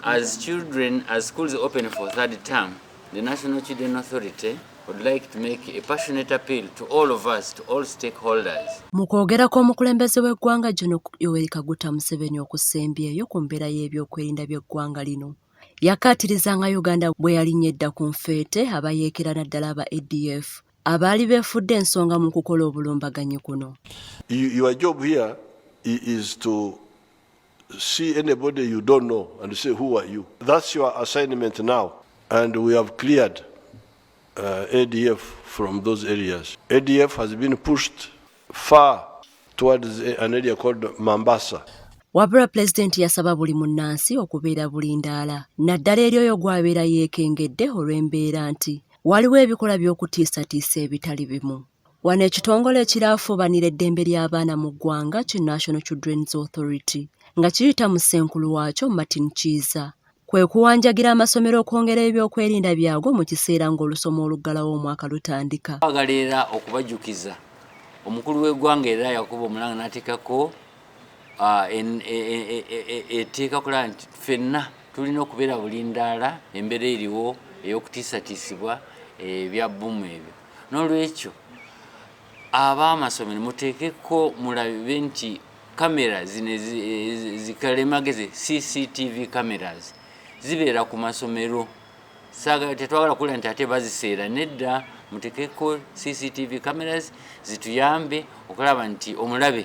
As children, as schools open for third term, the National Children Authority would like to make a passionate appeal to all of us, to all stakeholders. Mu kwogera kw'omukulembeze w'eggwanga Gen. Yoweri Kaguta Museveni okusembyeyo ku mbeera y'ebyokwerinda by'eggwanga lino, yakaatiriza nga Uganda bwe yalinnya edda ku nfeete abayeekera naddala aba ADF abaali beefudde ensonga mu kukola obulumbaganyi kuno your job here is to see anybody you don't know and say who are you that's your assignment now and we have cleared uh, adf from those areas adf has been pushed far towards an area called mambasa wabula pulezidenti yasaba buli munnansi okubeera bulindaala naddala eri oyo gw'abeera yeekengedde olw'embeera nti Waliwo ebikolwa by'okutiisatiisa ebitali bimu. Wano ekitongole ekiraafuubanira eddembe ly'abaana mu ggwanga ki National Children's Authority nga kiyita mu ssenkulu waakyo Martin Kiiza kwe kuwanjagira amasomero okwongera ebyokwerinda byago mu kiseera ng'olusoma oluggalawo omwaka lutandika. Twagala era okubajjukiza omukulu w'eggwanga era yakuba omulanga n'ateekako ah, e, e, e, eteeka kulaba nti fenna tulina okubeera bulindaala embeera eriwo ey'okutiisatiisibwa ebya eh, bbumu ebyo n'olwekyo ab'amasomero muteekeko mulabe nti kamera zino zikalemagezi cctv cameras zibeera ku masomero tetwagala kula nti ate baziseera nedda muteekeko cctv cameras zituyambe okulaba nti omulabe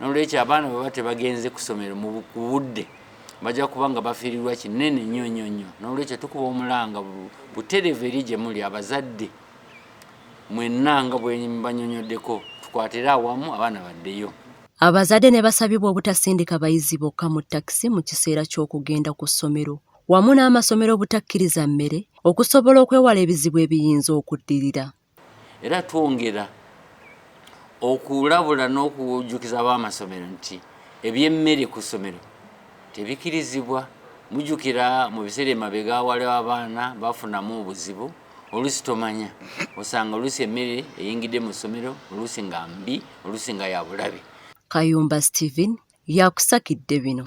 nolwekyo abaana bweba tebagenze kusomero mubudde bajja kuba nga bafiirirwa kinene nnyo nnyo nnyo nolwekyo tukuba omulanga buterevu eri gyemuli abazadde mwenna nga bwebanyonyoddeko tukwatire awamu abaana baddeyo abazadde ne basabibwa obutasindika bayizi bokka mu takisi mu kiseera ky'okugenda ku ssomero wamu n'amasomero obutakkiriza mmere okusobola okwewala ebizibu ebiyinza okuddirira Era twongera okulabula n'okujjukiza ab'amasomero nti eby'emmere ku ssomero tebikirizibwa. Mujjukira mu biseera emabega waliwo abaana bafunamu obuzibu oluusi tomanya osanga oluusi emmere eyingidde mu ssomero oluusi nga mbi oluusi nga ya bulabe. Kayumba Steven yakusakidde bino.